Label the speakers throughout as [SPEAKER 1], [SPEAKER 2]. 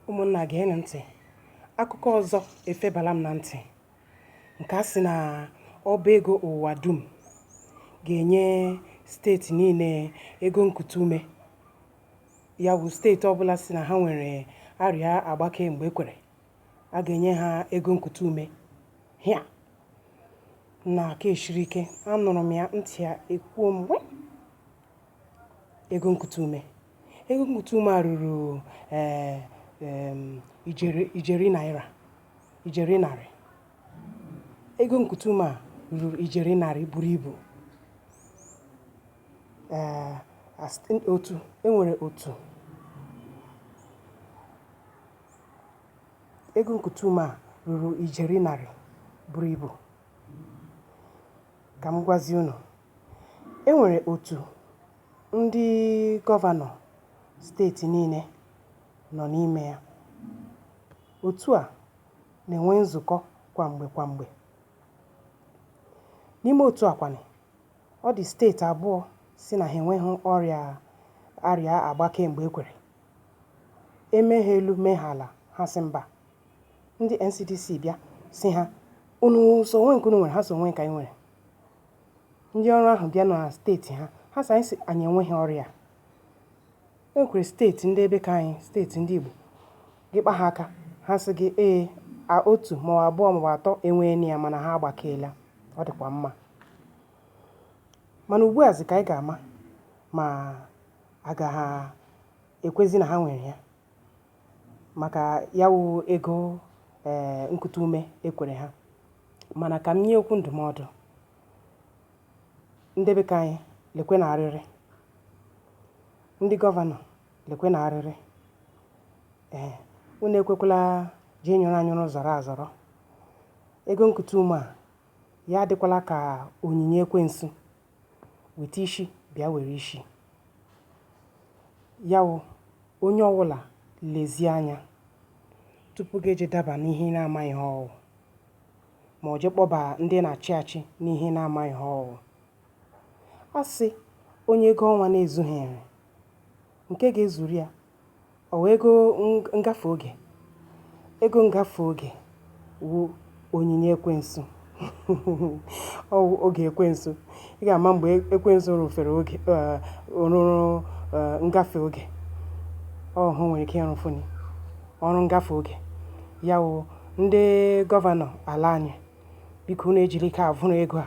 [SPEAKER 1] ụmụnna geenụ ntị akụkọ ọzọ efebala m na ntị nke a sị na ọba ego ụwa dum ga-enye steeti niile ego nkute ume ya wụ steeti ọbụla sị na ha nwere arịa agbake mgbe ekwere a ga-enye ha ego nkute ume hịa na aka eshiri ike anụrụ m ya ntị ya ekwuo mgbe ego nkute ume Ego nkute ume a ruru ee, em, ijeri ijeri naira ijeri narị ego nkute ume a ruru ijeri narị buru ibu ee as- otu enwere otu ego nkute ume a ruru ijeri narị buru ibu ka m gwazie unu E nwere otu ndị gọvanọ steeti niile nọ n'ime ya. Otu a na-enwe nzukọ kwa mgbe kwa mgbe. N'ime otu a kwanụ, ọ dị steeti abụọ sị na ha enweghị arịa agbake mgbe ekwere. E mee ha elu mee ha ala, ha sị mba. Ndị NCDC bịa sị ha, unu sị o nweghị nke unu nwere, ha sị o nweghị nke anyị nwere. Ndị ọrụ ahụ bịa na steeti ha, ha sị anyị sị anyị enweghị ọrịa. E nwekwara steeti ndị be ka anyị, steeti ndị Igbo, gị kpa ha aka, ha sị gị ee, a otu maọbụ abụọ maọbụ atọ enweeni ya mana ha agbakeela, ọ dịkwa mma. Mana ugbu a zị ka anyị ga-ama ma aga ha ekwezi na ha nwere ya. maka ya wụ ego ee nkute ume ekwere ha mana ka m nye okwu ndụmọdụ ndị be ka anyị lekwe na arịrị ndị gọvanọ lekwe na arịrị ee unu ekwekwala ji nyụrụ anyụrụ zọrọ azọrọ ego nkute ume a ya adịkwala ka onyinye ekwensu weta ishi bịa were ishi ya wụ onye ọwụla lezie anya tupu gị eje daba n'ihe ị na-amaghị ihe ọ wụ ma ọ je kpọba ndị na-achị achị n'ihe ị na-amaghị ihe ọ wụ a sị onye ego ọnwa na-ezughiri nke ga-ezuru ya Ọ wụ ego ngafe oge. Ego ngafe oge wụ onyinye ekwensu. Ọ wụ oge ekwensu. Ị ga-ama mgbe ekwensu rụfere oge eh, rụrụ eh, ngafe oge. Ọ hụ nwere ike ịrụfuni ọrụ ngafe oge. Ya wụ ndị gọvanọ ala anyị biko unu ejile ike avụrụ ego a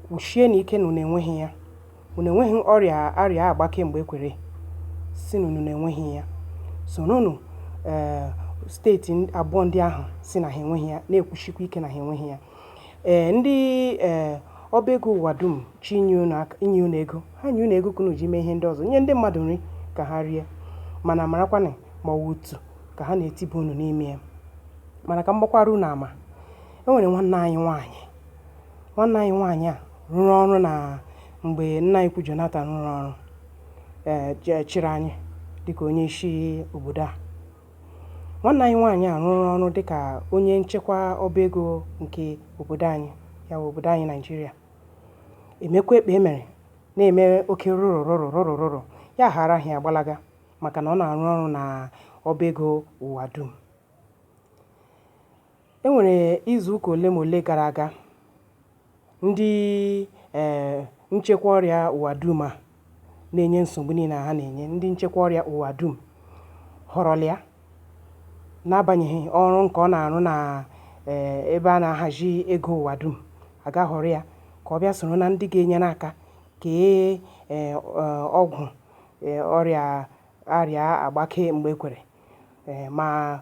[SPEAKER 1] kwusienụ ike na unu enweghị ya unu enweghị ọrịa arịa agbake mgbe kwere sị na unu enweghị ya soronụ ee eh, steeti abụọ ndị ahụ sị na ha enweghị ya na-ekwusikwa ike na ha enweghị ya ee eh, ndị ee eh, ọba ego ụwa dum chịnye unu ego ha nye unu ego ka unu ji mee ihe ndị ọzọ nye ndị mmadụ nri ka ha rie mana marakwanụ ma ọ wụ otu ka ha na-etiba unu n'ime ya mana ka m gbakwara unu ama e nwere nwanne anyị nwaanyị nwanne anyị nwaanyị a rụrụ ọrụ na mgbe nna anyị ukwu Jonathan rụrụ ọrụ ee je- chịrị anyị dịka onye isi obodo a nwanne anyị nwaanyị a rụrụ ọrụ dịka onye nchekwa ọba ego nke obodo anyị ya bụ obodo anyị naịjirịa emekwa ekpe emere na-eme oke rụrụ rụrụ ya ghara ahịa gbalaga maka na ọ na-arụ ọrụ na ọba ego ụwa dum e nwere izu ụka ole ma ole gara aga ndị ee eh, nchekwa ọrịa ụwa dum a na-enye nsogbu niile ha na-enye ndị nchekwa ọrịa ụwa dum họrọla ya n'agbanyeghị ọrụ nke ọ na-arụ na eh, ebe a na-ahazi ego ụwa dum a gaa họrọ ya ka ọ bịa soro na ndị ga-enyere aka kee eh, ọgwụ ee, ọrịa arịa agbake mgbe kwere ee, ma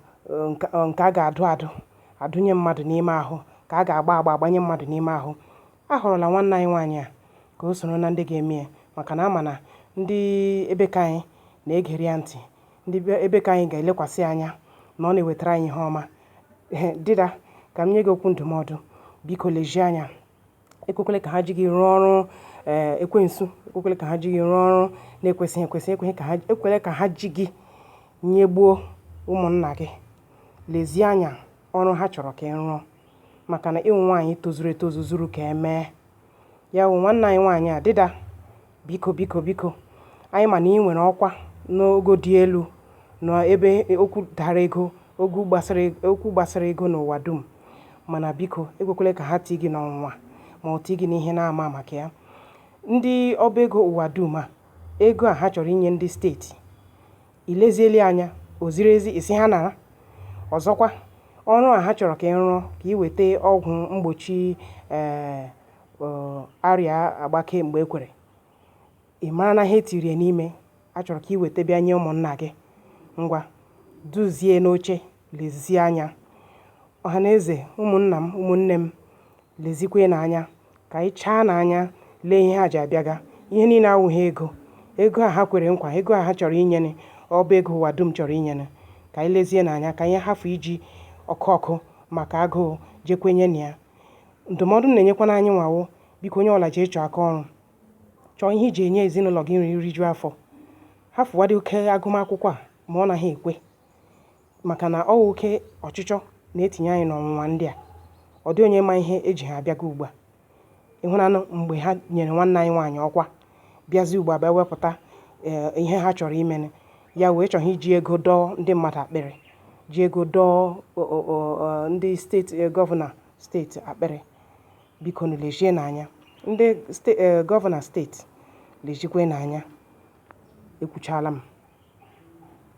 [SPEAKER 1] nke a ga-adụ adụ adụnye mmadụ n'ime ahụ ka a ga-agba agba agbanye mmadụ n'ime ahụ a họrọla nwanne anyị nwaanyị a ka o soro na ndị ga-eme ya maka na a ma na ndị ebe ka anyị na-egere ya ntị ndị ebe ka anyị ga-elekwasị anya na ọ na-ewetara anyị ihe ọma dịda ka m nye gị okwu ndụmọdụ biko lezie anya ekwekwele ka ha ji gị rụọ ọrụ ee eh, ekwensu ekwekwele ka ha ji gị rụọ ọrụ na-ekwesịghị ekwesị ekweghị ka ha ekwele ka ha ji gị nyegbuo ụmụnna gị lezie anya ọrụ ha chọrọ ka ị rụọ maka na ị wụ nwaanyị tozuru etozu zuru ka e mee ya wụ nwanne anyị nwaanyị a dịda Biko, biko, biko, anyị ma na ị nwere ọkwa n'ogo dị elu na ebe okwu dara ego okwu gbasara okwu gbasara ego n'ụwa dum mana biko ekwekwele ka ha tii gị n'ọnwụnwa ma ọ tii gị n'ihe na-ama maka ya ndị ọba ego ụwa dum a ego a ha chọrọ inye ndị steeti i leziele anya o ziri ezi ịsị ha nara ọzọkwa ọrụ a ha chọrọ ka ị rụọ ka ị weta ọgwụ mgbochi ee eh, um arịa agbakee mgbe e kwere, ị mara na ihe e tiri ya n'ime a chọrọ ka i weta bịa nye ụmụnna gị. Ngwa, duzie n'oche, lezie anya. Ọha na eze, ụmụnna m, ụmụnne m, lezikwanụ anya ka anyị chaanụ anya lee ihe ha ji abịaga. Ihe niile awụghị ego. Ego a ha kwere nkwa, ego a ha chọrọ inyere, ọ bụ ego ụwa dum chọrọ inyere. Ka anyị lezienụ anya ka anyị hafụ iji ọkụ ọkụ maka agụụ jee kwenye na ya Ndụmọdụ m na-enyekwanụ anyịnwa wụ, biko onye ọbụla jee chọọ aka ọrụ. Chọọ ihe i ji enye ezinụlọ gị nri riju afọ. Hafụwadị oke agụmakwụkwọ a ma ọ naghị ekwe maka na ọ wụ oke ọchịchọ na-etinye anyị n'ọnwụnwa ndị a. Ọ dị onye ma ihe e ji ha abịaga ugbu a. Ị hụlanụ mgbe ha nyere nwanne anyị nwaanyị ọkwa bịazi ugbu a bịa wepụta ee ihe ha chọrọ imenụ ya wee chọọ iji ego dọọ ndị mmadụ akpịrị ji ego dọọ ndị steeti e, gọvanọ steeti akpịrị bikonụ lezienụ anya ndị ste e, gọvanọ steeti lezikwenụ anya ekwuchala m